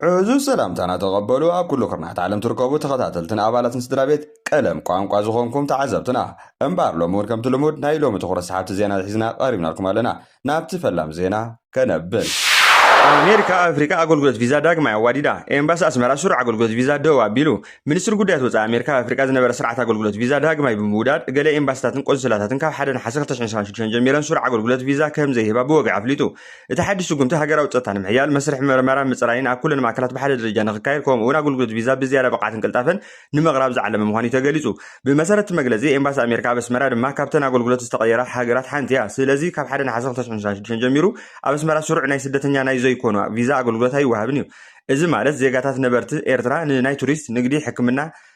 ዕዙዝ ሰላምታና ተቐበሉ ኣብ ኩሉ ኩርናዓት ዓለም ትርከቡ ተኸታተልትን ኣባላትን ስድራ ቤት ቀለም ቋንቋ ዝኾንኩም ተዓዘብትና። እምበኣር ሎሚ እውን ከምቲ ልሙድ ናይ ሎሚ ትኹረት ሰሓብቲ ዜና ሒዝና ቀሪብናልኩም ኣለና። ናብቲ ፈላም ዜና ከነብል። ኣሜሪካ ኣብ ኣፍሪቃ ኣገልግሎት ቪዛ ዳግማይ ኣዋዲዳ፣ ኤምባሲ ኣስመራ ስሩዕ ኣገልግሎት ቪዛ ደው ኣቢሉ። ሚኒስትሪ ጉዳያት ወጻኢ ኣሜሪካ ኣብ ኣፍሪቃ ዝነበረ ስርዓት ኣገልግሎት ቪዛ ዳግማይ ብምውዳድ፣ ገለ ኤምባሲታትን ቆንስላታትን ካብ ሓደ ነሓሰ ክልተ ሽሕን ሸውዓን ሽዱሽተን ጀሚረን ስሩዕ ኣገልግሎት ቪዛ ከም ዘይህባ ብወግዒ ኣፍሊጡ። እቲ ሓድሽ ስጉምቲ ሃገራዊ ጸጥታ ንምሕያል፣ መስርሕ መርመራን ምጽራይን ኣብ ኩለን ማእከላት ብሓደ ደረጃ ንክካየድ ከምኡ'ውን ኣገልግሎት ቪዛ ብዝያዳ ብቕዓትን ቅልጣፈን ንምቕራብ ዝዓለመ ምዃኑ'ዩ ተገሊጹ። ብመሰረት እቲ መግለጺ፣ ኤምባሲ ኣሜሪካ ኣብ ኣስመራ ድማ ካብተን ኣገልግሎት ዝተቐየራ ሃገራት ሓንቲ'ያ። ስለዚ ካብ ሓደ ነሓሰ ክልተ ሽሕን ሸሞንተን ሽዱሽተን ጀሚሩ ኣብ ኣስመራ ስሩዕ ናይ ስደተኛ ናይ ዘይኮኑ ቪዛ ኣገልግሎት ኣይወሃብን'ዩ። እዚ ማለት ዜጋታት ነበርቲ ኤርትራ ንናይ ቱሪስት፣ ንግዲ፣ ሕክምና፣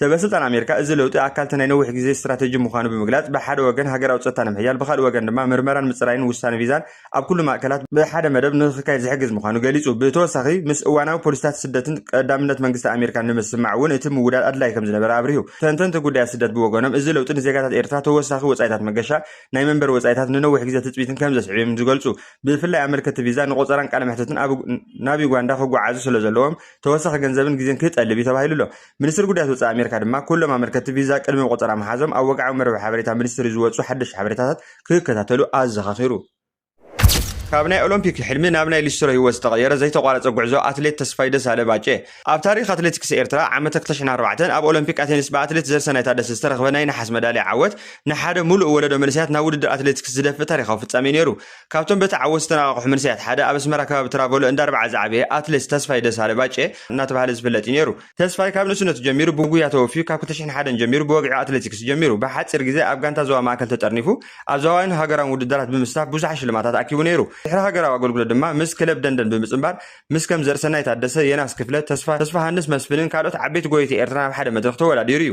ሰበስልጣን ኣሜሪካ እዚ ለውጢ ኣካልቲ ናይ ነዊሕ ግዜ ስትራተጂ ምዃኑ ብምግላጽ ብሓደ ወገን ሃገራዊ ጸጥታ ንምሕያል ብኻልእ ወገን ድማ ምርመራን ምጽራይን ውሳነ ቪዛን ኣብ ኩሉ ማእከላት ብሓደ መደብ ንኽካየድ ዝሕግዝ ምዃኑ ገሊጹ። ብተወሳኺ ምስ እዋናዊ ፖሊሲታት ስደትን ቀዳምነት መንግስቲ ኣሜሪካን ንምስምማዕ እውን እቲ ምውዳድ ኣድላዪ ከም ዝነበረ ኣብሪሁ። ተንተንቲ ጉዳያት ስደት ብወገኖም እዚ ለውጢ ንዜጋታት ኤርትራ ተወሳኺ ወጻኢታት መገሻ፣ ናይ መንበሪ ወጻኢታት፣ ንነዊሕ ግዜ ትጽቢትን ከም ዘስዕብ እዮም ዝገልጹ። ብፍላይ ኣመልከትቲ ቪዛ ንቖጸራን ቃለ መሕትትን ኣብ ናብ ዩጋንዳ ክጓዓዙ ስለ ዘለዎም ተወሳኺ ገንዘብን ግዜን ክጠልብ እዩ ተባሂሉ ኣሎ። ሚኒስትሪ ጉዳያት ወጻኢ ኣሜሪካ ድማ ኩሎም ኣመልከትቲ ቪዛ ቅድሚ ቆጸራ ምሓዞም ኣብ ወግዓዊ መርበብ ሓበሬታ ሚኒስትሪ ዝወጹ ሓደሽቲ ሓበሬታታት ክከታተሉ ኣዘኻኺሩ። ካብ ናይ ኦሎምፒክ ሕልሚ ናብ ናይ ሊስትሮ ህይወት ዝተቐየረ ዘይተቋረፀ ጉዕዞ ኣትሌት ተስፋይ ደሳለ ባጬ። ኣብ ታሪኽ ኣትሌቲክስ ኤርትራ ዓመተ ክልተ ሽሕን ኣርባዕተን ኣብ ኦሎምፒክ ኣቴንስ ብኣትሌት ዘርሰናይ ታደሰ ዝተረኽበ ናይ ነሓስ መዳልያ ዓወት ንሓደ ሙሉእ ወለዶ መንእሰያት ናብ ውድድር ኣትሌቲክስ ዝደፍእ ታሪኻዊ ፍጻሜ ነይሩ። ካብቶም በተዓወት ዝተነቓቕሑ መንሰያት ሓደ ኣብ ኣስመራ ከባቢ ትራቮሎ እንዳ ኣርብዓ ዝዓበየ ኣትሌት ተስፋይ ደሳለ፣ ባጬ፣ እናተባህለ ዝፍለጥ እዩ ነይሩ። ተስፋይ ካብ ንእስነቱ ጀሚሩ ብጉያ ተወፍዩ ካብ ክልተ ሽሕን ሓደን ጀሚሩ ብወግዒ ኣትሌቲክስ ጀሚሩ ብሓጺር ግዜ ኣብ ጋንታ ዞባ ማእከል ተጠርኒፉ ኣብ ዞባዊን ሃገራውን ውድድራት ብምስታፍ ብዙሓት ሽልማታት ኣኪቡ ነይሩ። ድሕሪ ሃገራዊ ኣገልግሎት ድማ ምስ ክለብ ደንደን ብምጽንባር ምስ ከም ዘርእሰናይ ታደሰ፣ የናስ ክፍለ፣ ተስፋ ተስፋሃንስ መስፍንን ካልኦት ዓበይቲ ጎየይቲ ኤርትራን ኣብ ሓደ መድረኽ ተወዳዲሩ እዩ።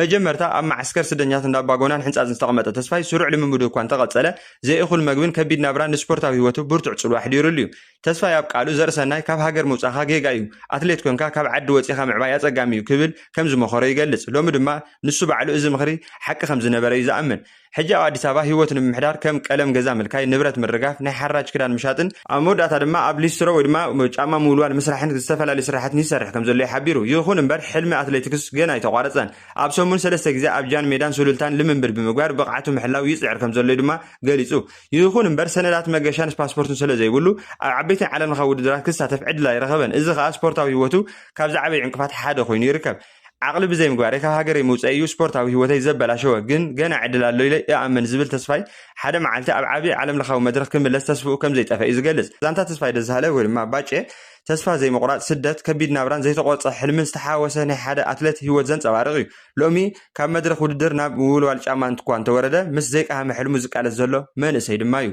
መጀመርታ ኣብ መዓስከር ስደኛት እንዳ ኣባጎናን ሕንጻጽን ዝተቐመጠ ተስፋይ ስሩዕ ልምምዱ እኳ እንተቐጸለ ዘይእኹል መግብን ከቢድ ናብራን ንስፖርታዊ ህይወቱ ብርቱዕ ጽልዋ ኣሕዲሩሉ እዩ። ተስፋይ ኣብ ቃሉ ዘርእሰናይ ካብ ሃገር ምውጻኻ ጌጋ እዩ፣ ኣትሌት ኮንካ ካብ ዓዲ ወጺኻ ምዕባይ ኣጸጋሚ እዩ ክብል ከም ዝመኸሮ ይገልጽ። ሎሚ ድማ ንሱ ባዕሉ እዚ ምኽሪ ሓቂ ከም ዝነበረ እዩ ዝኣምን። ሕጂ ኣብ ኣዲስ ኣበባ ህይወት ንምምሕዳር ከም ቀለም ገዛ ምልካይ፣ ንብረት ምርጋፍ፣ ናይ ሓራጅ ክዳን ምሻጥን ኣብ መወዳእታ ድማ ኣብ ሊስትሮ ወይ ድማ ጫማ ምውልዋል ምስራሕን ዝተፈላለዩ ስራሕትን ይሰርሕ ከምዘሎ'ዩ ሓቢሩ። ይኹን እምበር ሕልሚ ኣትሌቲክስ ገና ኣይተቋረጸን። ኣብ ሰሙን ሰለስተ ግዜ ኣብ ጃን ሜዳን ሱሉልታን ልምምድ ብምግባር ብቕዓቱ ምሕላው ይጽዕር ከምዘሎ'ዩ ድማ ገሊጹ። ይኹን እምበር ሰነዳት መገሻን ፓስፖርትን ሰለዘይብሉ ኣብ ዓበይትን ዓለምለኻዊ ውድድራት ክሳተፍ ዕድል ኣይረኸበን። እዚ ከኣ ስፖርታዊ ህይወቱ ካብ ዝዓበዩ ዕንቅፋት ሓደ ኮይኑ ይርከብ። ዓቕሊ ብዘይ ምግባረይ ካብ ሃገረይ ምውፀይ እዩ ስፖርታዊ ህይወተይ ዘበላሸወ፣ ግን ገና ዕድል ኣሎ ኢለ እኣምን ዝብል ተስፋይ፣ ሓደ መዓልቲ ኣብ ዓብዪ ዓለም ለኻዊ መድረኽ ክምለስ ተስፍኡ ከምዘይጠፈ እዩ ዝገልፅ። ዛንታ ተስፋይ ደሳለ ወይ ድማ ባጬ፣ ተስፋ ዘይምቑራፅ፣ ስደት፣ ከቢድ ናብራን ዘይተቖርፀ ሕልምን ዝተሓዋወሰ ናይ ሓደ ኣትለት ህይወት ዘንፀባርቕ እዩ። ሎሚ ካብ መድረኽ ውድድር ናብ ምውልዋል ጫማ እንትኳ እንተወረደ ምስ ዘይቀሃመ ሕልሙ ዝቃለስ ዘሎ መንእሰይ ድማ እዩ።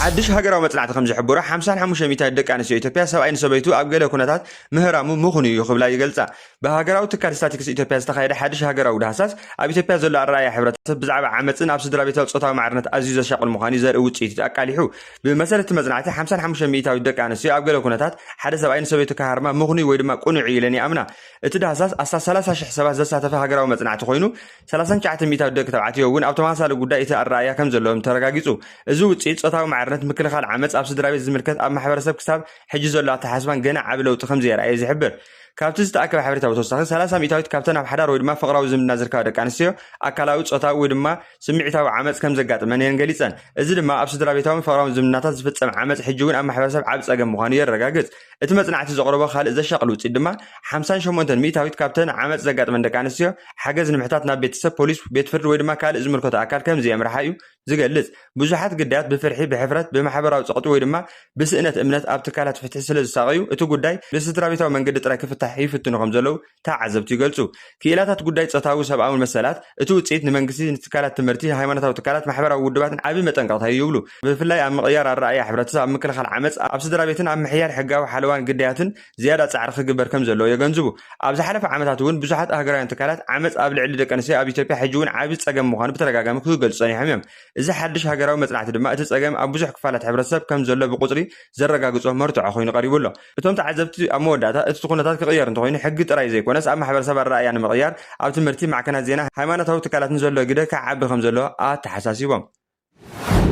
ሓድሽ ሃገራዊ መፅናዕቲ ከምዝሕብሮ ሓምሳን ሓሙሽተ ሚእታይት ደቂ ኣንስትዮ ኢትዮጵያ ሰብኣይ ንሰበይቱ ኣብ ገለ ኩነታት ምህራሙ ምኽኑይ እዩ ክብላ ይገልጻ። ብሃገራዊ ትካል ስታቲክስ ኢትዮጵያ ዝተኻየደ ሓድሽ ሃገራዊ ዳህሳስ፣ ኣብ ኢትዮጵያ ዘሎ ኣረኣእያ ሕብረተሰብ ብዛዕባ ዓመጽን ኣብ ስድራቤታዊ ጾታዊ ማዕርነት ኣዝዩ ዘሻቕል ምዃኑ'ዩ ዘርኢ ውጽኢት ኣቃሊሑ። ብመሰረት እቲ መጽናዕቲ፣ ሓምሳን ሓሙሽተን ሚኢታዊት ደቂ ኣንስትዮ ኣብ ገለ ኩነታት ሓደ ሰብኣይ ንሰበይቱ ክሃርማ ምኽኑይ ወይ ድማ ቅኑዕ እዩ ኢለን ይኣምና። እቲ ዳህሳስ ኣስታት ሰላሳ ሽሕ ሰባት ዘሳተፈ ሃገራዊ መጽናዕቲ ኮይኑ፣ ሰላሳን ትሽዓተ ሚኢታዊት ደቂ ተባዕትዮ እውን ኣብ ተመሳሳሊ ጉዳይ እቲ ኣረኣእያ ከም ዘለዎም ተረጋጊጹ። እዚ ውጽኢት፣ ጾታዊ ማዕርነት፣ ምክልኻል ዓመጽ ኣብ ስድራቤት ዝምልከት ኣብ ማሕበረሰብ ክሳብ ሕጂ ዘሎ ኣተሓሳስባን ገና ዓቢ ለውጢ ከም ዘየርኣየ ዝሕብር ካብቲ ዝተኣከበ ሓበሬታ ብተወሳኺ ሰላሳ ሚእታዊት ካብተን ኣብ ሓዳር ወይ ድማ ፍቕራዊ ዝምድና ዝርከባ ደቂ ኣንስትዮ ኣካላዊ፣ ጾታዊ ወይ ድማ ስምዒታዊ ዓመጽ ከም ዘጋጥመን እየን ገሊጸን። እዚ ድማ ኣብ ስድራ ቤታውን ፍቕራውን ዝምድናታት ዝፍጸም ዓመጽ ሕጂ እውን ኣብ ማሕበረሰብ ዓቢ ጸገም ምዃኑ የረጋግጽ። እቲ መጽናዕቲ ዘቕረቦ ካልእ ዘሻቕል ውጽኢት ድማ ሓምሳን ሸሞንተን ሚእታዊት ካብተን ዓመጽ ዘጋጥመን ደቂ ኣንስትዮ ሓገዝ ንምሕታት ናብ ቤተሰብ፣ ፖሊስ፣ ቤት ፍርዲ ወይ ድማ ካልእ ዝምልከቶ ኣካል ከም ዘየምርሓ እዩ። ዝገልጽ፣ ብዙሓት ግዳያት ብፍርሒ፣ ብሕፍረት፣ ብማሕበራዊ ጸቕጢ ወይ ድማ ብስእነት እምነት ኣብ ትካላት ፍትሒ ስለ ዝሳቐዩ፣ እቲ ጉዳይ ብስድራቤታዊ መንገዲ ጥራይ ክፍታሕ ይፍትኑ ከም ዘለዉ ተዓዘብቲ ይገልጹ። ክኢላታት ጉዳይ ጾታውን ሰብኣውን መሰላት፣ እቲ ውጽኢት ንመንግስቲ፣ ንትካላት ትምህርቲ፣ ንሃይማኖታዊ ትካላትን ማሕበራዊ ውድባትን ዓቢ መጠንቀቕታ እዩ ይብሉ። ብፍላይ ኣብ ምቕያር ኣረኣእያ ሕብረተሰብ፣ ኣብ ምክልኻል ዓመጽ ኣብ ስድራቤትን ኣብ ምሕያል ሕጋዊ ሓለዋን ግዳያትን ዝያዳ ጻዕሪ ክግበር ከም ዘለዎ የገንዝቡ። ኣብ ዝሓለፈ ዓመታት እውን ብዙሓት ኣህጉራውያን ትካላት ዓመጽ ኣብ ልዕሊ ደቂ ኣንስትዮ ኣብ ኢትዮጵያ ሕጂ እውን ዓቢ ጸገም ምዃኑ ብተደጋጋሚ ክገልጹ ጸኒሖም እዮም። እዚ ሓድሽ ሃገራዊ መጽናዕቲ ድማ እቲ ጸገም ኣብ ብዙሕ ክፋላት ሕብረተሰብ ከም ዘሎ ብቑጽሪ ዘረጋግጾ መርትዖ ኮይኑ ቀሪቡ ኣሎ። እቶም ተዓዘብቲ ኣብ መወዳእታ እቲ ኩነታት ክቕየር እንተኾይኑ ሕጊ ጥራይ ዘይኮነስ ኣብ ማሕበረሰብ ኣረኣእያ ንምቕያር ኣብ ትምህርቲ፣ ማዕከናት ዜና፣ ሃይማኖታዊ ትካላትን ዘሎ ግደ ክዓቢ ከም ዘለዎ ኣተሓሳሲቦም።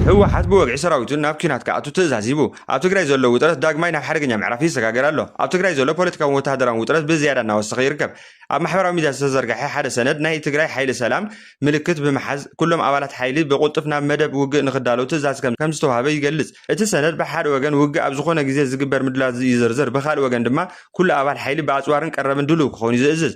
ህወሓት ብወግዒ ሰራዊቱ ናብ ኲናት ክኣቱ ትእዛዝ ሂቡ። ኣብ ትግራይ ዘሎ ውጥረት ዳግማይ ናብ ሓደገኛ ምዕራፍ ይሰጋገር ኣሎ። ኣብ ትግራይ ዘሎ ፖለቲካውን ወተሃደራውን ውጥረት ብዝያዳ እናወሰኸ ይርከብ። ኣብ ማሕበራዊ ሚድያ ዝተዘርገሐ ሓደ ሰነድ ናይ ትግራይ ሓይሊ ሰላም ምልክት ብምሓዝ ኩሎም ኣባላት ሓይሊ ብቕልጡፍ ናብ መደብ ውግእ ንኽዳለዉ ትእዛዝ ከምዝተውሃበ ይገልፅ። እቲ ሰነድ ብሓደ ወገን ውግእ ኣብ ዝኾነ ግዜ ዝግበር ምድላዋት ይዝርዝር፣ ብኻልእ ወገን ድማ ኩሉ ኣባል ሓይሊ ብኣፅዋርን ቀረብን ድሉው ክኸውን እዩ ዝእዝዝ።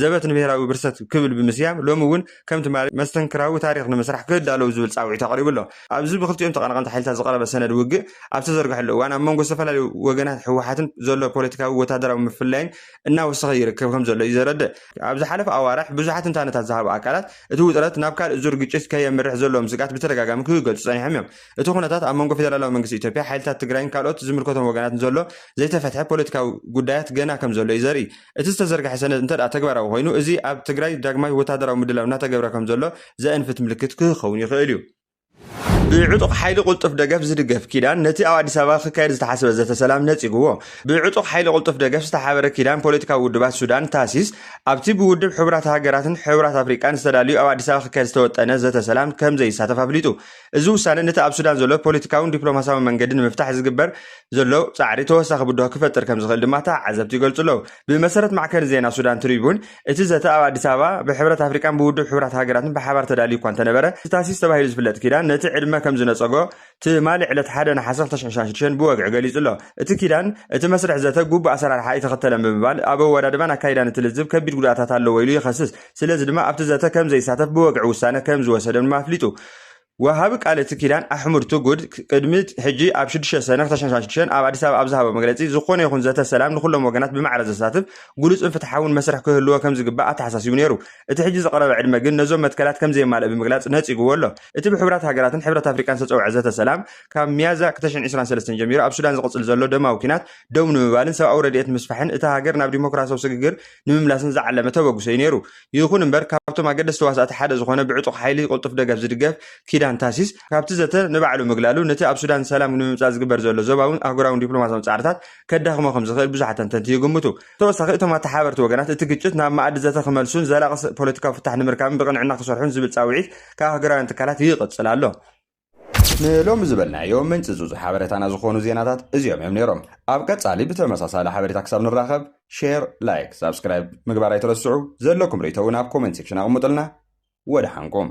ዘበት ንብሄራዊ ብርሰት ክብል ብምስያም ሎሚ እውን ከም ትማሊ መስተንክራዊ ታሪኽ ንምስራሕ ክዳለዉ ዝብል ፃውዒት ኣቕሪቡ ኣሎ። ኣብዚ ብክልቲኦም ተቐናቐንቲ ሓይልታት ዝቐረበ ሰነድ ውግእ ኣብ ዝተዘርገሐሉ እዋን ኣብ መንጎ ዝተፈላለዩ ወገናት ህወሓትን ዘሎ ፖለቲካዊ ወታደራዊ ምፍላይን እናወሰኸ ይርከብ ከምዘሎ እዩ ዘረድእ። ኣብ ዝሓለፉ ኣዋርሕ ብዙሓት ትንታነታት ዝሃቡ ኣካላት እቲ ውጥረት ናብ ካልእ ዙር ግጭት ከየምርሕ ዘለዎም ስግኣት ብተደጋጋሚ ክገልፁ ፀኒሖም እዮም። እቲ ኩነታት ኣብ መንጎ ፌደራላዊ መንግስቲ ኢትዮጵያ፣ ሓይልታት ትግራይን ካልኦት ዝምልከቶም ወገናትን ዘሎ ዘይተፈትሐ ፖለቲካዊ ጉዳያት ገና ከምዘሎ እዩ ዘርኢ። እቲ ዝተዘርገሐ ሰነድ እንተድኣ ተግባራዊ ኮይኑ እዚ ኣብ ትግራይ ዳግማይ ወታደራዊ ምድላው እናተገብረ ከምዘሎ ዘእንፍት ምልክት ክክከውን ይኽእል እዩ። ብዕጡቕ ሓይሊ ቁልጡፍ ደገፍ ዝድገፍ ኪዳን ነቲ ኣብ ኣዲስ ኣበባ ክካየድ ዝተሓስበ ዘተ ሰላም ነጺግዎ። ብዕጡቕ ሓይሊ ቁልጡፍ ደገፍ ዝተሓበረ ኪዳን ፖለቲካዊ ውድባት ሱዳን፣ ታሲስ፣ ኣብቲ ብውድብ ሕቡራት ሃገራትን ሕቡራት ኣፍሪቃን ዝተዳልዩ ኣብ ኣዲስ ኣበባ ክካየድ ዝተወጠነ ዘተ ሰላም ከምዘይሳተፍ ኣፍሊጡ። እዚ ውሳነ ነቲ ኣብ ሱዳን ዘሎ ፖለቲካውን ዲፕሎማስያውን መንገዲ ንምፍታሕ ዝግበር ዘሎ ጻዕሪ ተወሳኺ ብድሆ ክፈጥር ከም ዝኽእል ድማ ተዓዘብቲ ይገልጹ ኣለዉ። ብመሰረት ማዕከን ዜና ሱዳን ትሪቡን፣ እቲ ዘተ ኣብ ኣዲስ ኣበባ ብሕብረት ኣፍሪቃን ብውድብ ሕቡራት ሃገራትን ብሓባር ተዳልዩ እኳ እንተነበረ፣ እቲ ታሲስ ተባሂሉ ዝፍለጥ ኪዳን ነቲ ዕድመ ከም ዝነጸጎ ትማሊ ዕለት ሓደ ነሓሰ ክልተ ሽሕን ሸውዓን ሽዱሽተን ብወግዒ ገሊጹ ኣሎ። እቲ ኪዳን፣ እቲ መስርሕ ዘተ ግቡእ ኣሰራርሓ ኣይተኸተለን ብምባል፣ ኣብ ኣወዳድባን ኣካይዳን እቲ ልዝብ ከቢድ ጉድኣታት ኣለዎ ኢሉ ይኸስስ። ስለዚ ድማ ኣብቲ ዘተ ከም ዘይሳተፍ ብወግዒ ውሳነ ከም ዝወሰደም ድማ ኣፍሊጡ። ወሃቢ ቃል እቲ ኪዳን ኣሕሙድ ትጉድ ቅድሚ ሕጂ ኣብ ሽዱሽተ ሰነ ክልተ ሽሕን ሸሞንተ መቶን ኣብ ኣዲስ ኣበባ ኣብ ዝሃቦ መግለጺ ዝኾነ ይኹን ዘተ ሰላም ንኹሎም ወገናት ብማዕረ ዘሳትፍ ግሉጽን ፍትሓውን መስርሕ ክህልዎ ከም ዝግባእ ኣተሓሳሲቡ ነይሩ። እቲ ሕጂ ዝቐረበ ዕድመ ግን ነዞም መትከላት ከም ዘየማልእ ብምግላጽ ነጺግዎ ኣሎ። እቲ ብሕቡራት ሃገራትን ሕብረት ኣፍሪቃን ዝተጸውዐ ዘተ ሰላም ካብ ሚያዝያ ክልተ ሽሕን ዕስራን ሰለስተን ጀሚሩ ኣብ ሱዳን ዝቕጽል ዘሎ ደማዊ ኲናት ደው ንምባልን ሰብኣዊ ረድኤት ምስፋሕን እታ ሃገር ናብ ዲሞክራሲያዊ ስግግር ንምምላስን ዝዓለመ ተበግሶ እዩ ነይሩ። ይኹን እምበር ካብቶም ኣገደስቲ ተዋሳእቲ ሓደ ዝኾነ ብዕጡቕ ሓይሊ ቅልጡፍ ደገፍ ዝድገፍ ኪዳን ታሲስ ካብቲ ዘተ ንባዕሉ ምግላሉ ነቲ ኣብ ሱዳን ሰላም ንምምጻእ ዝግበር ዘሎ ዞባውን ኣህጉራውን ዲፕሎማሲያውን ጻዕርታት ከዳኽሞ ከም ዝኽእል ብዙሓት ተንተንቲ ይግምቱ። ተወሳኺ እቶም ኣተሓባበርቲ ወገናት እቲ ግጭት ናብ መኣዲ ዘተ ክመልሱን ዘላቒ ፖለቲካዊ ፍታሕ ንምርካብን ብቕንዕና ክሰርሑን ዝብል ጻውዒት ካብ ኣህጉራውያን ትካላት ይቕጽል ኣሎ። ንሎሚ ዝበልናዮ ምንጪ ጹጹ ሓበሬታና ዝኾኑ ዜናታት እዚኦም እዮም ነይሮም። ኣብ ቀጻሊ ብተመሳሳሊ ሓበሬታ ክሳብ ንራኸብ ሼር፣ ላይክ፣ ሳብስክራይብ ምግባር ኣይትረስዑ። ዘለኩም ርእይቶ እውን ኣብ ኮመንት ሴክሽን ኣቕምጡልና። ወደሓንኩም።